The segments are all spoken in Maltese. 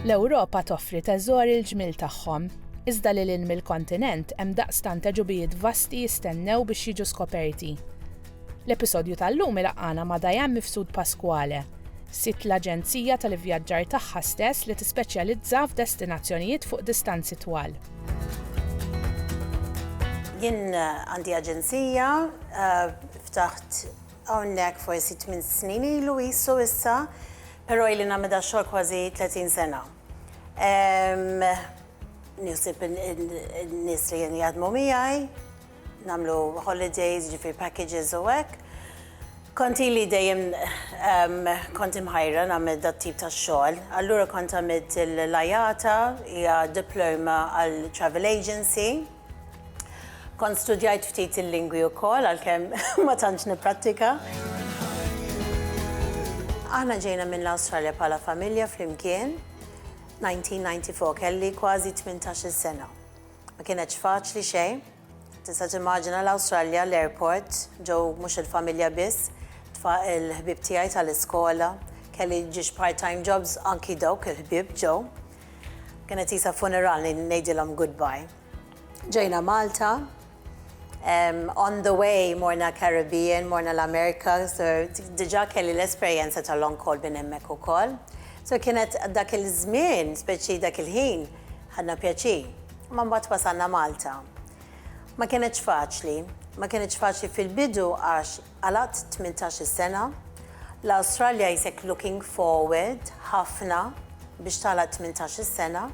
L-Ewropa toffri teżori l-ġmiel tagħhom, iżda lil hinn mill-kontinent hemm daqstant għeġubijiet vasti jistennew biex jiġu skoperti. L-episodju tal-lum ilaqqagħna ma' Diane Mifsud Pasquale, sid l-aġenzija tal-ivvjaġġar tagħha stess li tispeċjalizza f'destinazzjonijiet fuq distanzi twal. Jien għandi aġenzija ftaħt hawnhekk forsi tmien snin ilu qisu issa, però ili nagħmel da x-xogħol kważi tletin sena. Nħsieb in-nies li kienu jaħdmu miegħi, nagħmlu holidays, jiġifieri packages u hekk. Kont ili dejjem kont imħajra nagħmel dat-tip ta' xogħol. Allura kont għamilt l-IATA, hija diploma għal travel agency. Kont studjajt ftit il-lingwi wkoll għalkemm ma tantx nipprattika. Aħna ġejna minn l-Awstralja bħala familja flimkien 1994, kelli kważi tmintax-il sena. Ma kienetx faċli xejn. Tista' timmaġina l-Awstralja, l-airport, ġew mhux il-familja biss, tfa' il-ħbieb tiegħi tal-iskola, kelli ġiex part-time jobs anki dawk il-ħbieb ġew. Kienet qisha funeral ngħidilhom goodbye. Ġejna Malta, on the way morna Caribbean, morna l-Amerika, diġà kelli l-esperjenza ta' long haul minn hemmhekk ukoll. So kienet dak il-żmien, speċi dak il-ħin, ħadna pjaċir. Ma mbagħad wasalna Malta. Ma kienetx faċli, ma kienetx faċli fil-bidu għax Għal għad tmintax-il sena, l-Awstralja jisek looking forward ħafna biex tagħlaq tmintax-il sena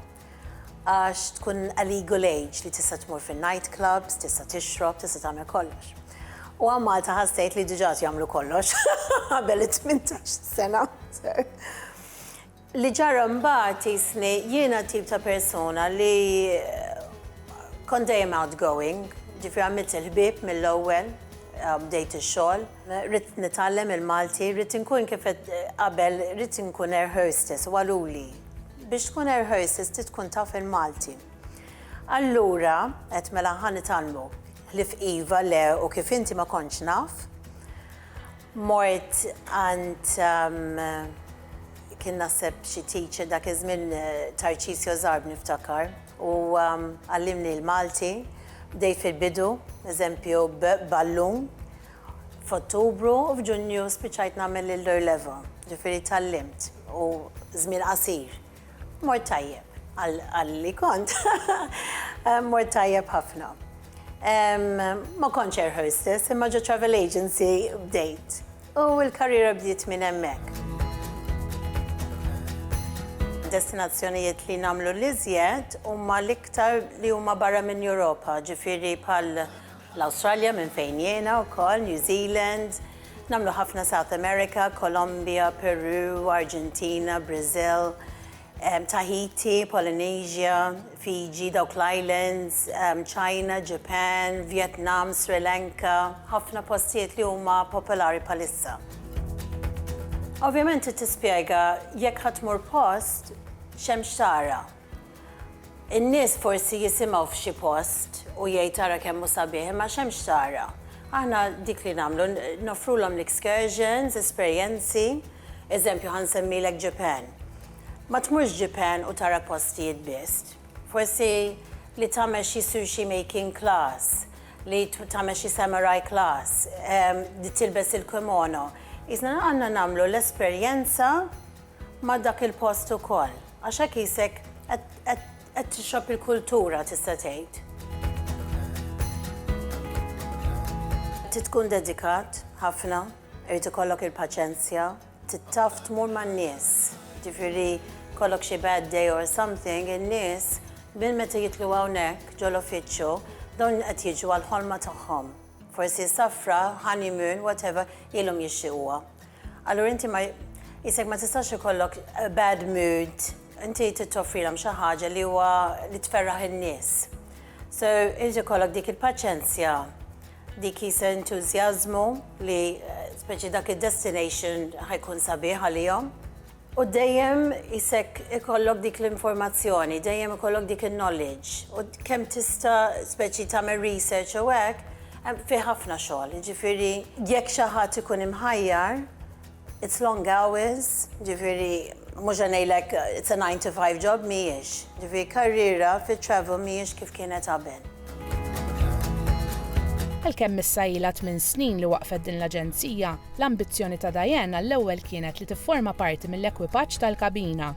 għax tkun a legal age li tista' tmur fin-night clubs, tista' tixrob, tista' tagħmel kollox. U għal Malta ħadd tgħid li diġà qed jagħmlu kollox qabel it-tmintax-il sena. Li ġara mbagħad qisni jiena tip ta' persuna li kont dejjem outgoing, ġifieri għamilt il-ħbieb mill-ewwel, bdejt ix-xogħol, ridt nitgħallem il-Malti, ridt inkun kif għedt qabel ridt inkun air hostess u qaluli biex tkun air hostess trid tkun taf il-Malti. Allura għedt mela ħa nitgħallmu, ħlief iva, le u kif inti ma kontx naf. Mort għand kien naħseb xi teacher dak iż-żmien Tarċisio Zarb niftakar u għallimni l-Malti, bdejt fil-bidu, eżempju b'Ballun, f'Ottubru u f'Ġunju spiċċajt nagħmel il-Lower Level, ġifieri tgħallimt u żmien qasir. Mort tajjeb, għal li kont, mort tajjeb ħafna. Ma kontx air hostess, imma ġo travel agency bdejt. U l-karriera bdiet minn hemmhekk. Destinazzjonijiet li nagħmlu l-iżjed huma l-iktar li huma barra minn Europa, ġifieri bħal l-Awstralja minn fejn jiena wkoll, New Zealand, nagħmlu ħafna South America, Kolombja, Peru, Arġentina, Brażil, Tahiti, Polynesia, Fiji, dawk l-islands, China, Japan, Vietnam, Sri Lanka, ħafna postijiet li huma popolari bħalissa. Ovvjament trid tispjega jekk ħa tmur post x'hemm x'tara. In-nies forsi jisimgħu f'xi post u jgħid ara kemm hu sabiħ imma x'hemm x'tara. Aħna dik li nagħmlu, noffrulhom l-excursions, esperjenzi, eżempju ħa nsemmilek Japan. Ma tmurx Japan u tara postijiet biss. Forsi li tagħmel xi sushi making class, li tagħmel xi samurai class, li tilbes il-kimono. Qisna għandna nagħmlu l-esperjenza ma' dak il-post ukoll, għax hekk qisek qed tixrob il-kultura tista' tgħid. Trid tkun dedikat ħafna, irid ikollok il-paċenzja, trid taf tmur man-nies, jiġifieri jkollok xi bad day or something, in-nies minn meta jidħlu hawnhekk ġo l-uffiċċju, dawn qed jiġu għall-ħolma tagħhom. Forsi safra, honeymoon, whatever, ilhom jixtiequha. Allura inti ma jisek ma tistax ikollok bad mood, inti tittoffrilhom xi ħaġa li huwa li tferraħ in-nies. So inti kollok dik il-paċenzja, dik jisa entużjażmu li eh, speċi dak id-destination ħajkun sabiħ għalihom. U dejjem isek ikollok dik l-informazzjoni, dejjem ikollok dik il-knowledge, u kemm tista' speċi tagħmel research u hekk, hemm fih ħafna xogħol, jiġifieri jekk xi ħadd ikun imħajjar, it's long hours, jiġifieri mhux se ngħidlek it's a nine to five job, mhijiex. Jiġifieri karriera fit-travel mhijiex kif kienet qabel. Għalkemm issa ilha tmien snin li waqqfet din l-aġenzija, l-ambizzjoni ta' Diane għall-ewwel kienet li tifforma parti mill-ekwipaġġ tal-kabina.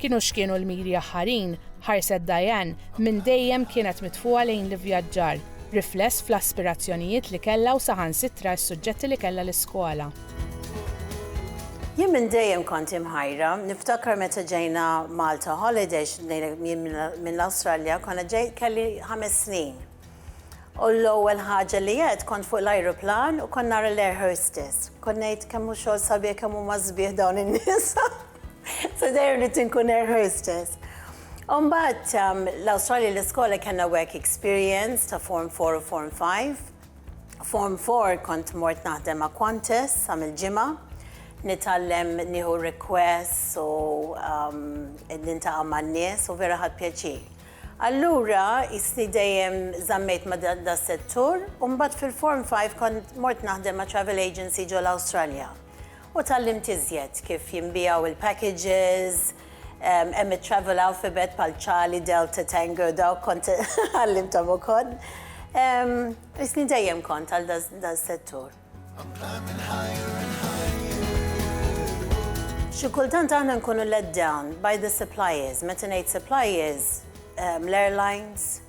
Kienu x'kienu l-miri aħħarin, ħarset Diane, minn dejjem kienet mitfugħa lejn l-ivvjaġġar, rifless fl-aspirazzjonijiet li kellha u saħansitra s-suġġetti li kellha l-iskola. Jien minn dejjem kont imħajra, niftakar meta ġejna Malta holidays, ngħidlek jien minn l-Awstralja, konna ġej, kelli ħames snin. U l-ewwel ħaġa li għedt kont fuq l-ajruplan u kont nara l-air hostess. Kont ngħid kemm hu xogħol sabiħ kemm huma sbieħ dawn in-nisa. Se dejjem rrid inkun air hostess. U mbagħad l-Awstralja l-iskola kellna work experience ta' form four u form five. Form four kont mort naħdem ma' Qantas sa mill-ġimgħa. Nitgħallem nieħu requests u nintaqa' man-nies u vera ħadt pjaċir. Allura qisni dejjem żammejt ma' das-settur u mbagħad fil-Form five kont mort naħdem ma' travel agency ġol-Awstralja u tgħallimt iżjed kif jinbiegħu l-packages, Hemm it-travel alphabet bħal Charlie, Delta, Tango, dawk kont għallimthom ukoll. Isni dejjem kont għal dal-settur. Xi kultant aħna nkunu let down by the suppliers. Meta ngħid suppliers, l-airlines,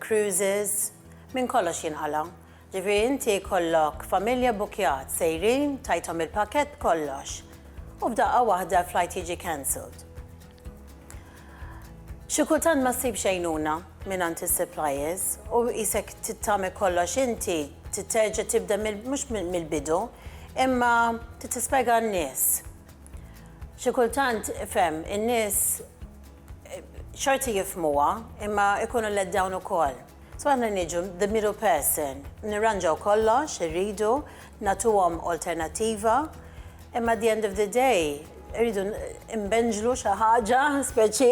cruises, minn kollox jinqala'. Ġifieri inti jkollok familja bbukkjat, sejrin, tajthom il-pakkett b'kollox, u f'daqqa waħda l-flight jiġi cancelled. Xi kultant ma ssibx għajnuna mingħand is-suppliers u qisek trid tagħmel kollox inti, trid terġa' tibda mhux mill-bidu, imma trid tispjega għan-nies. Xi kultant, ifhem, in-nies Xorti jifhmuha, imma jkunu let down ukoll. So aħna niġu the middle person, nirranġaw kollox, irridu, nagħtuhom alternattiva, imma at the end of the day irridu nbenġlu xi ħaġa speċi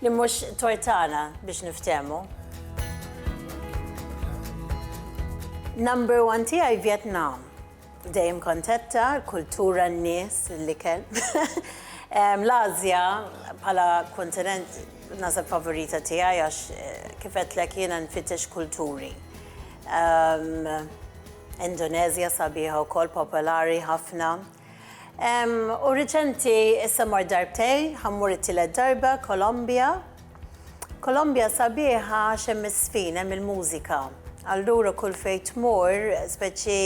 li mhux tort tagħna biex niftehmu. Number one tiegħi Vjetnam. Dejjem kontetta, l-kultura, n-nies, l-ikel. L-Ażja bħala kontinent naħseb favorita tiegħi għax kif għedtlek jiena nfittex kulturi. Indoneżja sabiħa wkoll popolari ħafna. U riċenti issa mort darbtejn, ħa mmur it-tielet darba, Kolombja. Kolombja sabiħa għax hemm iż-żfin, hemm il-mużika. Allura kull fejn tmur, speċi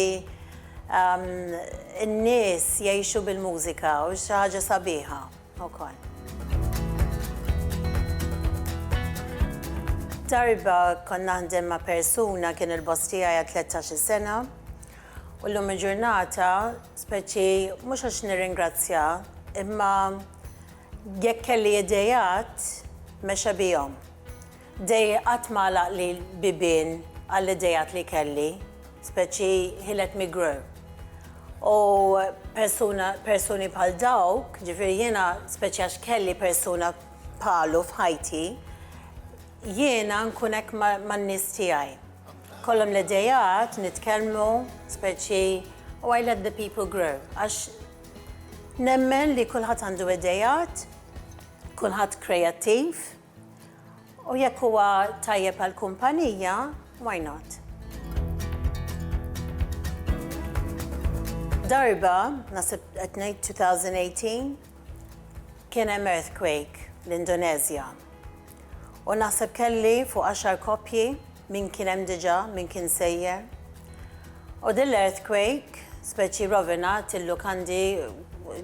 n-nies jgħixu bil-mużika u xi ħaġa sabiħa wkoll. Darba kont naħdem ma' persuna kien il-boss tiegħi għal tlettax-il sena u llum il-ġurnata speċi mhux għax nirringrazzjah imma Jekk kelli ideat, mexa bihom. Dei qatt ma għalaqli l-bibien għall-ideat li kelli, speċi he let me grow. U persuna, persuni bħal dawk, ġifieri jiena, speċi għax kelli persuna bħalu f'ħajti, jiena nkun hekk man-nies tiegħi. Kollhom l-ideat, nitkellmu, speċi u I let the people grow, għax Nemmen li kulħadd għandu ideat, kulħadd kreattiv, u jekk huwa tajjeb għall-kumpanija, why not? Darba, naħseb qed ngħid 2018, kien hemm earthquake l-Indonezja. U naħseb kelli fuq għaxar koppji, min kien hemm diġà, min kien sejjer. U din l-earthquake, speċi rrovinat il-lukandi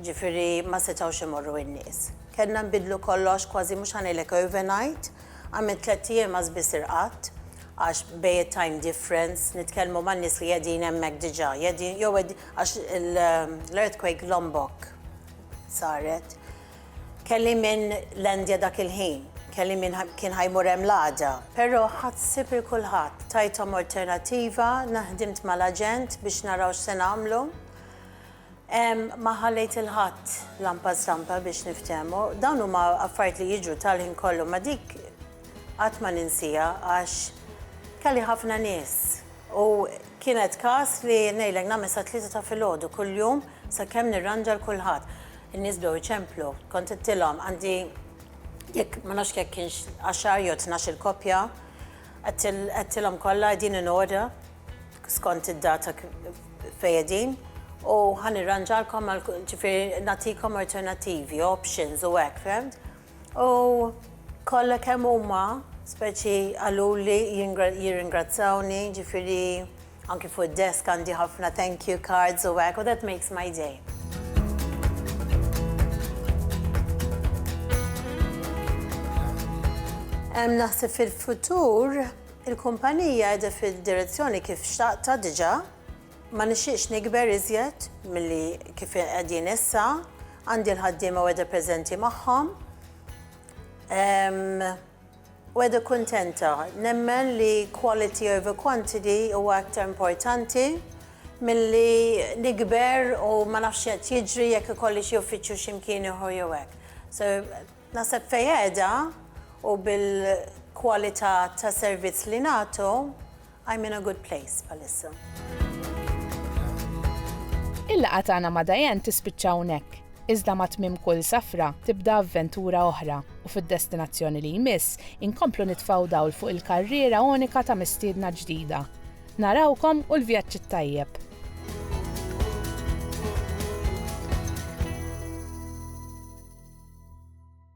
ġifieri ma setgħux imorru n-nies. Kellna nbiddlu kollox kważi mhux ħa ngħidlek overnight, għamilt tlett ijiem għaż biss irqadt għax bejn it-time difference, nitkellmu man-nies li qegħdin hemmhekk diġà, qegħdin jew qegħdin għax l-earthquake Lombok saret. Kelli min lendja dak il-ħin, kelli min kien ħa jmur hemm l-għada. Però ħadt sib il kulħadd, tajthom orternativa, na ħdimt mal-aġent biex naraw x'se nagħmlu. Ma ħallejt il ħadd lampa stampa biex niftehmu. Dawn huma affarijiet li jiġru tal-ħin kollu ma dik qatt ma ninsiha għax kelli ħafna nies u kienet każ li ngħidlek nagħmel sa tlieta ta' filgħodu kuljum sakemm nirranġa l kulħadd. In-nies bdew iċemplu. Kont għedtilhom għandi jekk ma nafx jekk kienx għaxar jew tnax-il koppja, għedtilhom kollha qegħdin in order skont id-data fejn qegħdin u ħa nirranġalkom għal kull ġifieri nagħtikom alternattivi, options u hekk, fhimt? U kollha kemm huma speċi qaluli jirringrazzjawni, ġifieri, Anki fuq id-desk għandi ħafna thank you cards u hekk u that makes my day. Naħseb fil-futur, il-kumpanija qiegħda fid-direzzjoni kif xtaqtha diġà, ma nixtieqx nikber iżjed milli kif qegħdin issa, għandi l-ħaddiema u qiegħda preżenti magħhom. Weather kuntenta. Nemmen li quality over quantity huwa aktar importanti milli nikber u ma nafx x'qed jiġri jekk ikolli xi uffiċċju xi mkien ieħor jew hekk. So naħseb fejn qiegħda u bil-kwalità tas-servizz li nagħtu, I'm in a good place bħalissa. Il-laqgħa tagħna ma' Diane tispiċċa hawnhekk, iżda ma' tmiem kull safra tibda avventura oħra u fid-destinazzjoni li jmiss inkomplu nitfgħu dawl fuq il-karriera unika ta' mistiedna ġdida. Narawkom u l-vjaġġ it-tajjeb!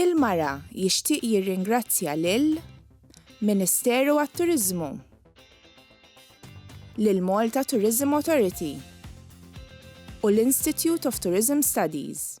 Il-Mara jixtieq jirringrazzja lil Ministeru għat-Turiżmu, lill-Malta Tourism Authority u l-Institute of Tourism Studies.